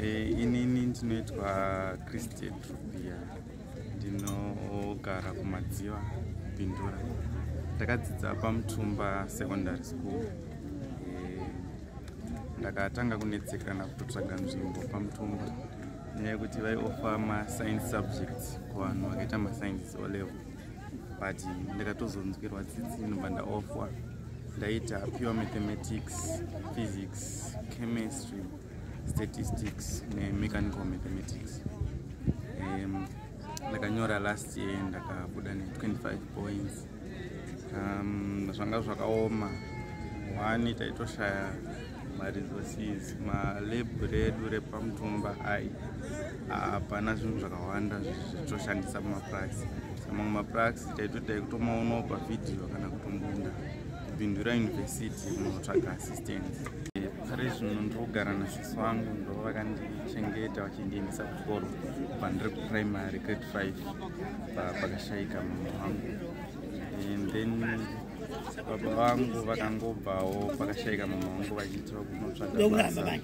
Eh, inini ndinoitwa christian trubia ndinogara kumadziva pindura ndakadzidza pamutumba secondary school eh, ndakatanga kunetsekana kutotsvaga nzvimbo pamutumba nenyaya yekuti vaiofa mascience subjects kuvanhu vakaita mascience olevel but ndakatozonzwirwa tsitsi ndobva ndaofwa ndaita pure mathematics physics chemistry statistics nemechanical mathematics um, ndakanyora last year ndakabuda ne25 points um, zvanga zvakaoma one taitoshaya maresources malebhu redu repamutumba ai hapana zvinhu zvakawanda zvatoshandisa pamapuraxi samamwe mapuraxi taitoita ekutomaonawo pavhidhiyo kana kutombunda kupindura yunivhesiti munotsvaga assistance pari zvino ndiri kugara nasisi vangu ndo vakandichengeta vachindiendesa kuchikoro kubva ndiri kuprimary grade five pakashaika mama wangu and then baba vangu vakangobvawo pakashaika mama vangu vachiitira kunotsvaga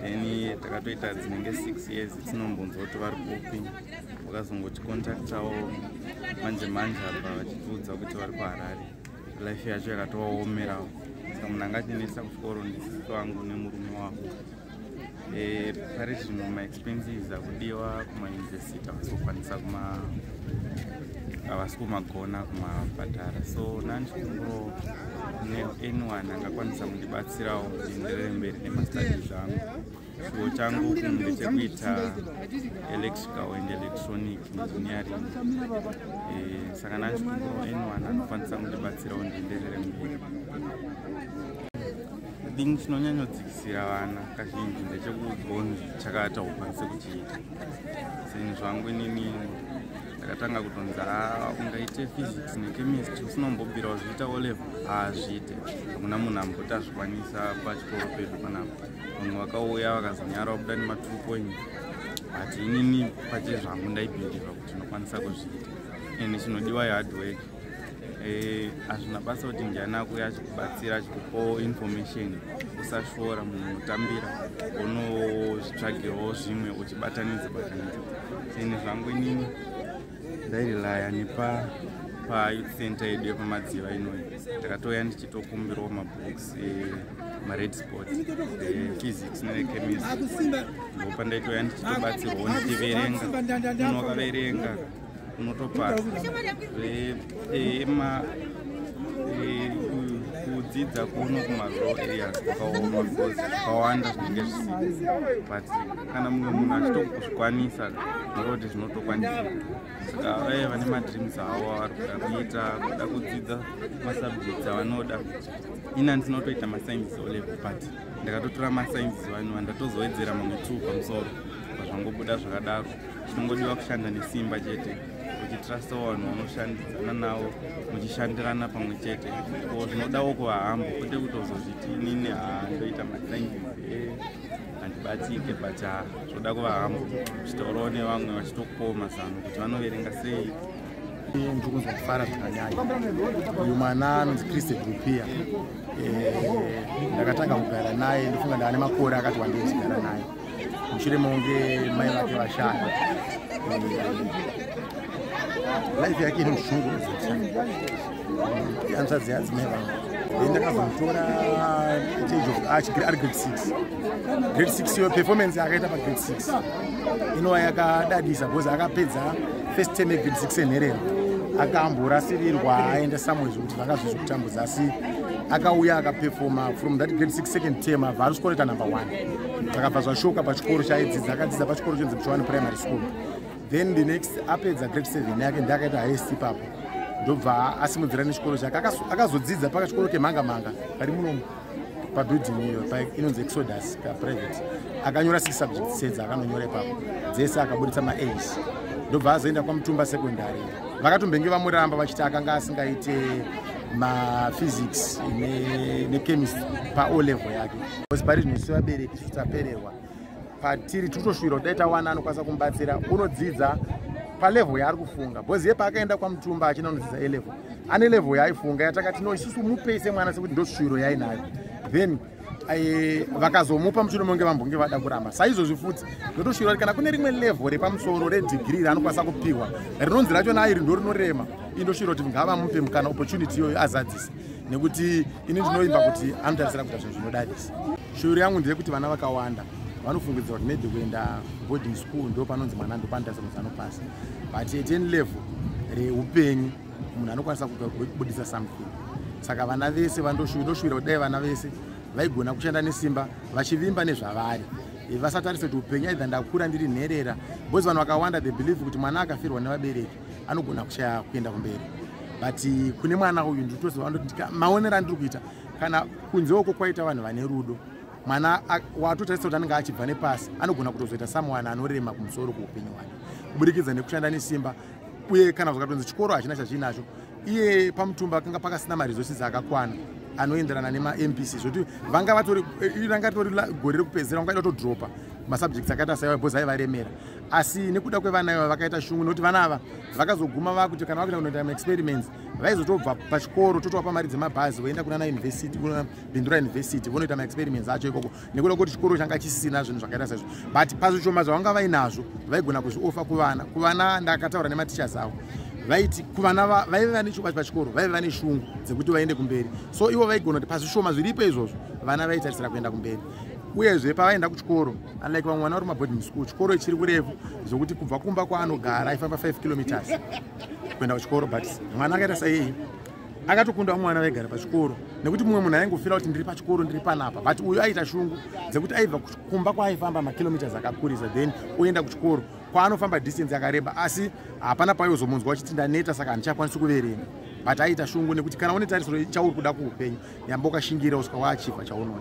then takatoita dzinenge six years tinombonzwa kuti vari kupi vakazongotikontaktawo manje manje apa vachitiudza kuti vari kuharare life yacho yakatovaomerawo saka munhu angatinetsa kuchikoro ndisisi vangu nemurume wavo Eh, pari zvino maexpenses akudiwa kumayunivhesiti havasi kukwanisa kuma havasi kumagona kumabhadhara so nani chikunguro neanyone angakwanisa kundibatsirawo ndienderere mberi nemastadi zvangu chiwo changu kunge chekuita electrical and electronic engineering eh, saka nani chikunguro anyone anokwanisa kundibatsirawo ndienderere mberi Chinhu chinonyanyodzikisira vana kazhinji ndechekugonzi chakaita ukwanise kuchiita zvinhu zvangu inini ndakatanga kutonzi ah, ungaite physics nechemistry usinombobira wazviita olevel haazviite hakuna munhu amboti azvikwanisa pachikoro pedu panapa vanhu vakauya vakazonyara wabuda nematwo point but inini pachezvangu ndaibhindira kuti ndinokwanisa kuzviita ende chinodiwa yehardwork Eh, hazvina basa kuti ndiani akuye achikubatsira achikupawo information usashora munhu unotambira unozvitsvagirawo zvimwe uchibatanidza batanidza seni zvangu inini ndairelaya nepa payouth center yedu yepamadziva inoyi ndakatouya ndichitokumbirawo mabooks eh, mared sport eh, physics nechemistry ndopandaitouya ndichitobatsirwawo ndichiverenga unokaverenga unotopasa ema kudzidza kuno kumarural areas kwakaoma because kwawanda zvinenge zvisi but kana mumwe munhu achitokuzvikwanisa noroti zvinotokwanisa saka vaye vane madreams avo avari kuda kuita kuda kudzidza masubjects avanoda ini andinotoita mascience olevel but ndakatotora mascience vanhu vandatozoedzera mamwe two pamusoro pazvangobuda zvakadaro chinongodiwa kushanda nesimba chete uchitrasta vanhu vanoshandidzana navo muchishandirana pamwe chete ko zvinodawo kuvahambo kwete kutozozviti inini haa ndoita mathank eh, handibatsike but ha zvoda kuvahambo uchitaurawo nevamwe vachitokupawo mazano kuti vanoverenga sei ndiri kunzwa kufara zvakanyanya uyu mwana anonzi christe grupia eh, ndakatanga kugara naye ndofunga ndava nemakore akati wandiri kugara naye mushure mekunge mai vake vashaya life yake ine mushungu hanzvadzi yadzimai vangu then ndakazomutora age of ah, chigiri ari grade six grade six iyo performance yakaita pagrade six inova yakadadisa because akapedza first term yegrade six enherero akamborasirirwa aenda somewhere zvekuti vanga zvizi kutambudza asi akauya akapefoma from that grade six second term abva ari skoreta number one zvakabva zvashoka pachikoro chaidzidza akadzidza pachikoro chinzi mchowani primary school then the next apedza grade seven yake ndiakaita highest ipapo ndobva asimudzira nechikoro chake akazodzidza pakachikoro kemhanga mhanga kari munomu pabuilding iyo inonzi exodus kaprivate akanyora six subjects sedza akanonyora ipapo dzese akaburitsa maas ndobva azoenda kwamutumba secondary vakatombenge vamuramba vachiti akanga asingaite maphysics nechemistry paolevel yake because pari zvino isu vabereki isu tapererwa patiri totoshuwira kuti dai tawana anokwanisa kumubatsira unodzidza palevel yaari kufunga bcause ye paakaenda kwamutumba achina unodzidza elevel ane level yaaifunga yatakati no isusu mupei semwana sekuti ndoshuwiro yainayo then eh, vakazomupa muchino monge vambonge vada kuramba saizvozvi futi ndotoshuvira kuti kana kune rimwe level repamusoro redigiri raanokwanisa kupihwa rinonzi racho nairi ndo rinorema indoshuvira kuti ngavamupe mukana opportunity iyoyo azadzisa nekuti ini ndinoimba kuti anotarisira kuita zvinhu zvinodadisa shuviro yangu ndeyekuti vana vakawanda vanofungidzira kuti maybe kuenda boarding school ndo panonzi mwana ndopanotarisa kuti anopasa but at any level reupenyu munhu anokwanisa kubudisa something saka vana vese vandoshuvira kuti dai vana vese vaigona kushanda nesimba vachivimba nezvavari vasatarise kuti upenyu aidha ndakura ndiri nherera bcause vanhu vakawanda the believe kuti mwana akafirwa nevabereki anogona kushaya kuenda kumberi but eh, kune mwana uyu nditoziva ndoti maonero andiri kuita kana kunze uko kwaita vanhu vane rudo mwana watotarisa kuti anenge achibva nepasi anogona kutozoita samuwana anorema kumusoro kweupenyu hwake kuburikidza nekushanda nesimba uye kana zvakatonzi chikoro hachina chazviinacho iye pamutumba kanga pakasina maresources akakwana anoenderana nemambc zvekuti vanga vatori eh, ranga ritori gore rekupedzisira vanga vaida kutodropa masubjects akaita saiwa bhozi aivaremera asi nekuda kwevana iva vakaita shungu nokuti vana ava vakazoguma vakuti kana vakuita kunoita maexperiments vaizotobva pachikoro totovapa mari dzemabhazi voenda kunana university kuna bindura university vonoita maexperiments acho ikoko nekuda kuti chikoro changa chisina zvinhu zvakaita saizvo but pazvishoma zvavanga vainazvo vaigona kuzviofa kuvana kuvana ndakataura nematichers avo vaiti kuvana vaive vane chokwadi pachikoro vaive vane shungu dzekuti vaende kumberi so ivo vaigona kuti pazvishoma zviripo izvozvo vana vaitarisira kuenda kumberi uyezve pavaenda kuchikoro unlike vamwe vana vari maboarding school chikoro chiri kurefu zvokuti kubva kumba kwaanogara aifamba 5 kilometers kuenda kuchikoro but mwana akaita saiyeye akatokunda vamwe vana vaigara pachikoro nekuti mumwe munhu aingofira kuti ndiri pachikoro ndiri panapa but uyu aiita shungu dzekuti aibva kumba kwaaifamba makilometers akakurisa then oenda kuchikoro kwaanofamba distance yakareba asi hapana paiozomunzwa wachiti ndaneta saka handichakwanisi kuverenga but aiita shungu nekuti kana une tarisiro chauri kuda kuupenyu yamba ukashingira usika waachibva chaunoda